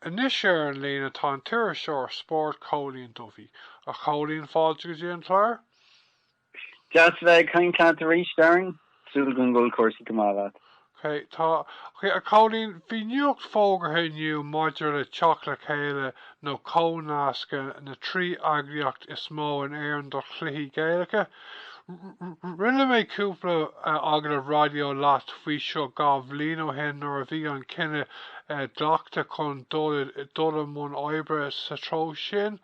Anois ar an líne tá an t-iriseoir spóirt Cóilín Duffy. A Chóilín, fáilte go dtí an clár. Deas a bheith ag caint leat arís, Darren. Súil agam go bhfuil cúrsaí go maith leat. Tá. A Chóilín, bhí nuacht fógartha inniu maidir le teacht le chéile nó comhnascadh na trí eagraíocht is mó in Éirinn do chluichí Gaelacha. Rinne mé cúpla agallamh raidió leat faoi seo dhá bhliain ó shin nuair a bhí an cinneadh glactha chun dul i mbun oibre sa treo sin.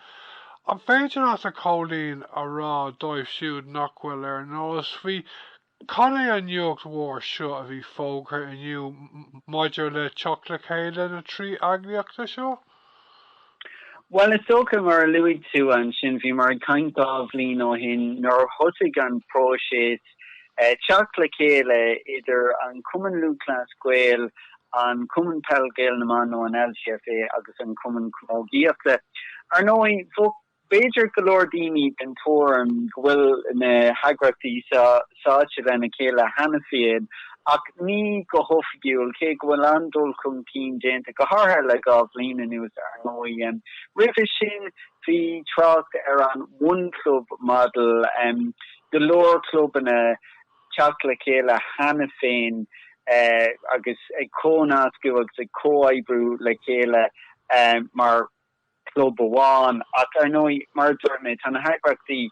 An féidir leat, a Chóilín, a rá dóibh siúd nach bhfuil ar an eolas faoi cad é an nuacht mhór seo a bhí fógartha inniu maidir le teacht le chéile na trí eagraíochta seo? Bhuel, is dócha, mar a luaigh tú ansin, bhíomar ag caint dhá bhliain ó shin nuair a thosaigh an próiseas teacht le chéile idir an Cumann Lúthchleas Gael, an Cumann Peil Gael na mBan nó an LGFA agus an Cumann Camógaíochta. Ar ndóigh. B'fhéidir go leor daoine den tuairim go bhfuil na heagraíochtaí seo sáite lena chéile cheana féin, ach ní go hoifigiúil, cé go bhfuil an-dul chun cinn déanta, go háirithe le dhá bhliain anuas, ar ndóigh. Roimhe sin, bhí trácht ar an One Club Model, go leor clubanna teacht le chéile cheana féin agus ag comhnascadh agus ag comhoibriú le chéile mar. club amháin. Ach, ar ndóigh, mar a dúirt mé, tá na heagraíochtaí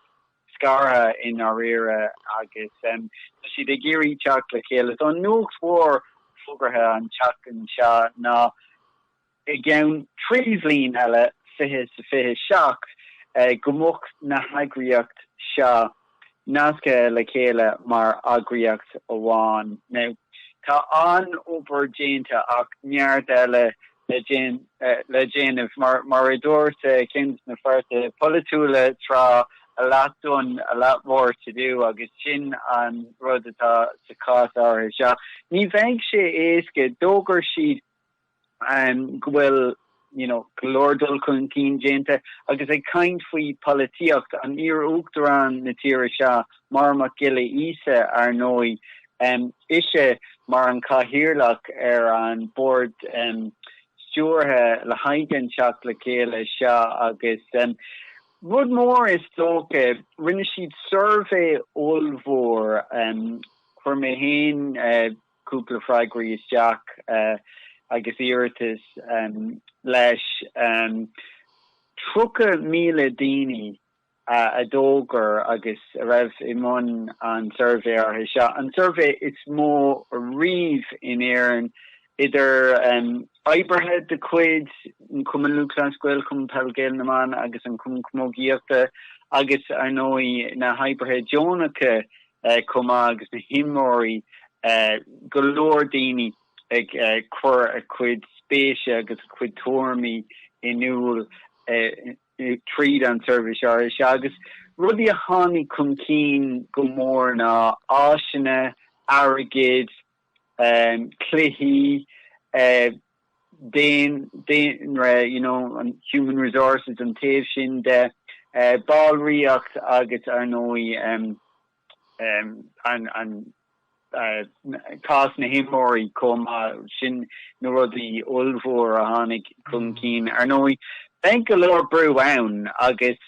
scartha i ndáiríre agus tá siad ag iarraidh teacht le chéile. Tá an nuacht mhór fógartha an tseachtain seo ná i gceann trí bhliain eile, fiche sa fiche seacht, go mbeadh na heagraíocht seo nasctha le chéile mar eagraíocht amháin. Now, tá an-obair déanta ach neart eile le déanamh. Mar a dúirt ceann des na páirtithe polaitiúla tráth, a lot done, a lot more to do, agus sin an rud atá sa chás áirithe seo. Ní bheidh sé éasca. D'fhógair siad. go bhfuil you know go leor dul chun cinn déanta agus ag caint faoi pholaitíocht an iar-uachtarán na tíre seo, Máire Mhic Giolla Íosa, ar ndóigh, ise mar an cathaoirleach ar an bord stiúrtha le haghaidh an teacht le chéile seo agus rud mór is dócha, rinne siad suirbhé ollmhór, chuir mé féin cúpla freagraí isteach agus iarratas leis. 30,000 daoine a d'fhreagair agus a raibh i mbun an suirbhé áirithe seo, an suirbhé is mó riamh in Éirinn, idir oibrithe de chuid an Chumainn Lúthchleas Gael, Chumann Peil Gael na mBan agus an Chumainn Chamógaíochta agus, ar ndóigh, na hoibrithe deonacha chomh maith agus na himreoirí, go leor daoine ag cur a gcuid spéise agus a gcuid tuairimí in iúl tríd an suirbhé áirithe seo agus rudaí a tháinig chun cinn go mór ná áiseanna, airgead, cluichí. daonra, you know, human resources, an taobh sin de ballraíocht agus, ar ndóigh, an cás na himreoirí chomh maith. Sin na rudaí ollmhór a tháinig chun cinn. Ar ndóigh, beidh go leor brú ann agus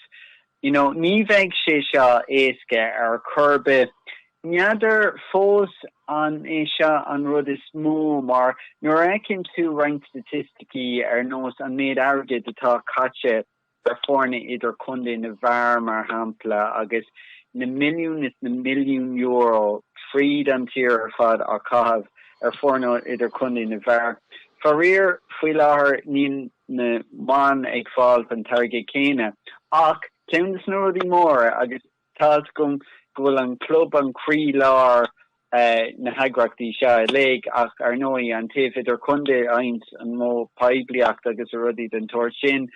you know ní bheidh sé seo éasca ar chor ar bith. N'fheadar fós an é seo an rud is mó mar nuair a fheiceann tú roinnt staitisticí ar nós an méid airgid atá caite ar foirne idirchontae na bhfear mar shampla agus na milliún is na milliún euro fríd an tír ar fad á caitheamh ar foirne idirchontae na bhfear faraor faoi láthair níl na mban ag fáil an t-airgead céanna. Ach ceann de na rudaí móra, agus tá's agam go bhfuil an club an croílár na heagraíochtaí seo uilig, ach ar ndóigh an taobh idirchontae a fhaigheann an mó poiblíocht agus rudaí den tsórt sin,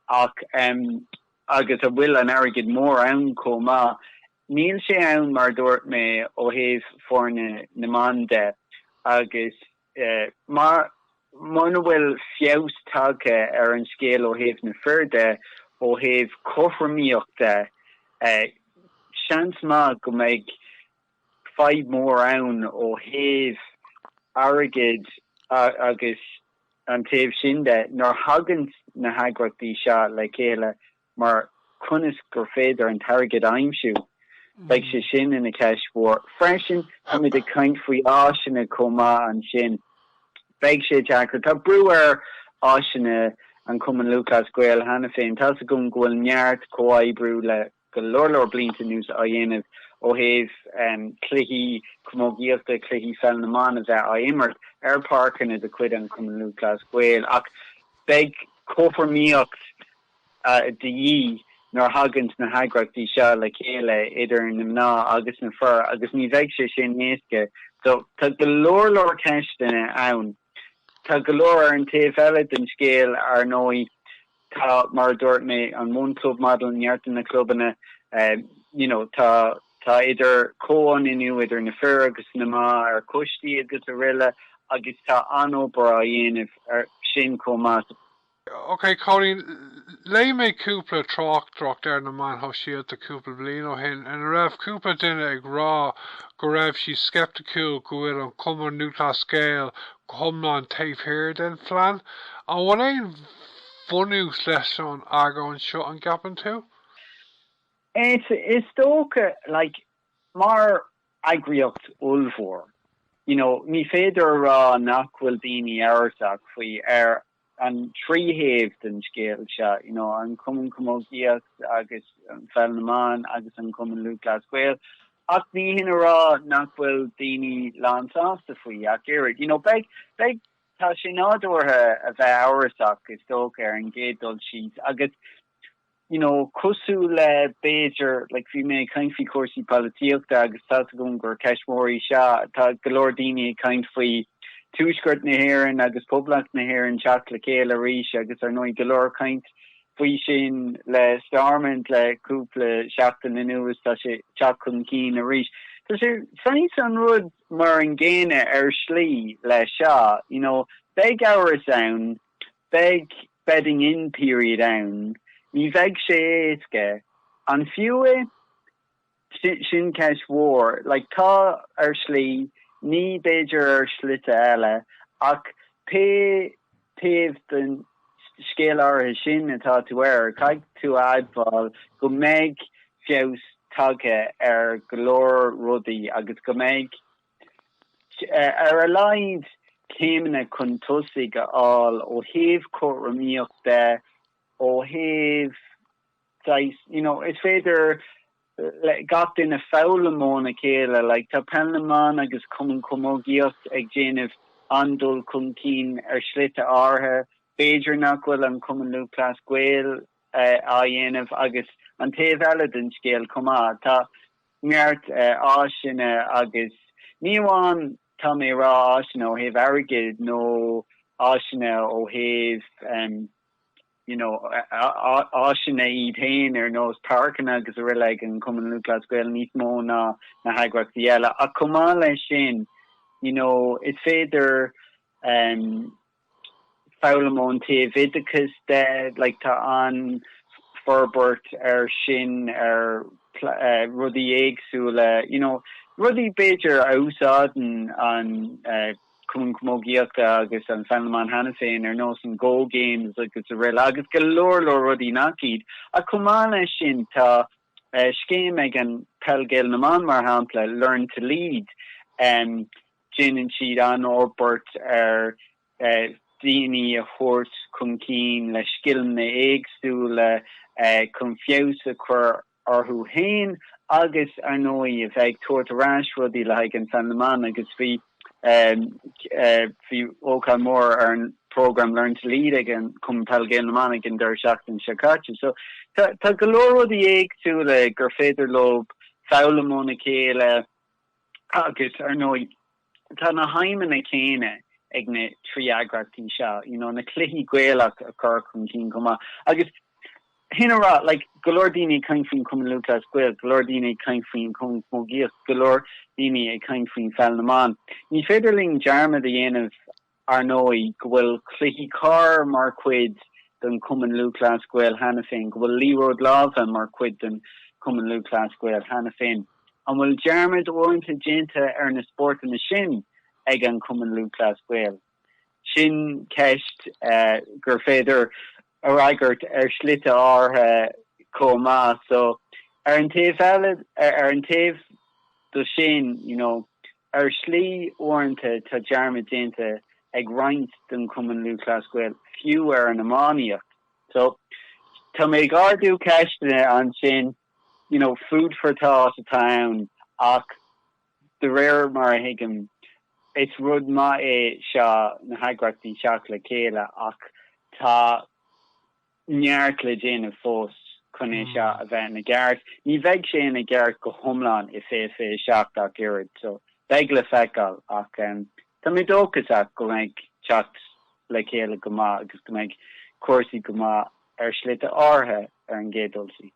ach agus a bhfuil an airgead mór ann chomh maith, níl sé ann mar a dúirt mé ó thaobh foirne na mban de, agus Mar, muna bhfuil feabhas tagtha ar an scéal ó thaobh na fir de, ó thaobh cothromaíochta, seans maith go mbeidh fadhb mhór ann ó thaobh airgid agus an taobh sin de, nuair a thagann na heagraíochtaí seo le chéile mar conas gur féidir an t-airgead a aimsiú? Beidh sé sin ina cheist mhór freisin. Táimid ag caint faoi áiseanna chomh maith ansin. Beidh sé deacair. Tá brú ar áiseanna an Chumainn Lúthchleas Gael cheana féin. Tá's agam go bhfuil neart comhoibriú le go leor leor blianta anuas á dhéanamh ó thaobh cluichí camógaíochta, cluichí pheil na mban a bheith á imirt ar pháirceanna de chuid an Chumainn Lúthchleas Gael ach beidh cothromaíocht de dhíth nuair a thaganns na heagraíochtaí seo le chéile, idir na mná agus na fir, agus ní bheidh sé sin éasca. So, tá go leor leor ceisteanna ann. Tá go leor ar an taobh eile den scéal, ar ndóigh. Tá, mar a dúirt mé, an One Club Model, neart de na clubanna, you know, tá, tá idir chomhionannú idir na fir agus na mná ar choistí agus aroile agus tá an-obair á dhéanamh air sin chomh maith. OK Cóilín, léigh mé cúpla tráchtaireacht ar na meáin shóisialta cúpla bliain ó shin ina raibh cúpla duine ag rá go raibh siad sceipticiúil go bhfuil an Cumann Lúthchleas Gael go hiomlán taobh thiar den phlean. An bhfuil aon bhunús leis an argóint seo, an gceapann tú? Is, is dócha, like, mar eagraíocht ollmhór, you know, ní féidir a rá nach bhfuil daoine amhrasach faoi ar an trí thaobh den scéal seo, you know an Cumann Camógaíocht agus Peil na mBan agus an Cumann Lúthchleas Gael ach ní hin a rá nach bhfuil daoine lán sásta faoi ach oiread. You know beidh, beidh, tá sé nádúrtha a bheith amhrasach is dócha ar an gcéad dul síos agus you know, cosúil le, b'fhéidir, like bhí mé ag caint faoi chúrsaí polaitíochta agus tá's agam gur ceist mhór í seo, tá go leor daoine ag caint faoi Tuaisceart na hÉireann agus Poblacht na hÉireann teacht le chéile arís agus ar ndóigh go leor caint faoi sin le Stormont le cúpla seachtain anuas, tá sé teacht chun cinn arís. Tá sé saghas an rud mar an gcéanna ar shlí leis seo, you know, beidh amhras ann Beidh bedding-in period ann. Ní bheidh sé éasca. An fiú é? Sin ceist mhór. Like, tá, ar shlí. Ní, b'fhéidir, ar shlite eile. Ach pé taobh den scéal áirithe sin atá tú air, caithfidh tú a admháil go mbeidh feabhas tagtha ar go leor rudaí agus go mbeidh ar a laghad céimeanna chun tosaigh ar fáil ó thaobh cothromaíocht de, ó thaobh saghas, you know, is féidir le gach duine foghlaim óna chéile, like, tá Peil na mBan agus Cumann Camógaíocht ag déanamh an-dul chun cinn ar shlite áirithe, b'fhéidir nach bhfuil an Cumann Lúthchleas Gael á dhéanamh agus an taobh eile den scéal chomh maith. Tá. neart áiseanna agus ní amháin, tá mé ag rá, áiseanna ó thaobh airgid nó áiseanna ó thaobh you know áiseanna iad féin ar nós páirceanna agus aroile ag an Cumann Lúthchleas Gael níos mó ná na heagraíochtaí eile ach chomh maith leis sin you know is féidir foghlaim ón taobh oideachais de, like tá an forbairt ar sin ar rudaí éagsúla, you know, rudaí b'fhéidir a úsáideann an Cumann Camógaíochta agus an Pheil na mBan cheana féin ar nós an Go Games agus araile agus go leor leor rudaí nach iad. Ach chomh maith leis sin tá scéim ag an Peil Gael na mBan, mar shampla, Learn to Lead, déanann siad an-fhorbairt ar dhaoine a thabhairt chun cinn le scileanna éagsúla chun feabhas a chur orthu féin agus, ar ndóigh, a bheith ag tabhairt ar ais rudaí le haghaidh an Pheil na mBan agus bhí bhí ócáid mhór ar an program Learn to Lead ag an Cumann Peil Gael na mBan ag an deireadh seachtaine seo caite. So, tá go leor rudaí éagsúla gur féidir leo foghlaim óna chéile agus, ar ndóigh, tá na haidhmeanna céanna ag na trí eagraíochtaí seo, you know, na cluichí Gaelacha a chur chun cinn chomh maith agus, shin a rá, like, go leor daoine ag caint faoin Chumann Lúthchleas Gael, go leor daoine ag caint faoin Chumann Camógaíochta, go leor daoine ag caint faoin Pheil na mBan. Ní féidir linn dearmad a dhéanamh, ar ndóigh, go bhfuil cluichí corr mar chuid den Chumann Lúthchleas Gael cheana féin, go bhfuil liathróid láimhe mar chuid den Chumann Lúthchleas Gael cheana féin. An bhfuil dearmad uaireanta déanta ar na spórtanna sin ag an Cumann Lúthchleas Gael? Sin ceist gur féidir. a fhreagairt ar shlite áirithe chomh maith. So, ar an taobh eile, ar an taobh do sin, you know, ar shlí, uaireanta, tá dearmad déanta ag roinnt den Chumann Lúthchleas Gael fiú ar an iománaíocht. So, tá mé ag ardú ceisteanna ansin, you know, food for thought atá ann ach. De réir mar a thuigim, is rud maith é seo na heagraíochtaí teacht le chéile ach tá neart le déanamh fós chun é seo a bheith ina gceart. Ní bheidh sé ina gceart go hiomlán i 2027 ach oiread so beidh le feiceáil ach tá mé dóchasach go mbeidh teacht le chéile go maith agus go mbeidh cúrsaí go maith ar shlite áirithe ar an gcéad dul síos.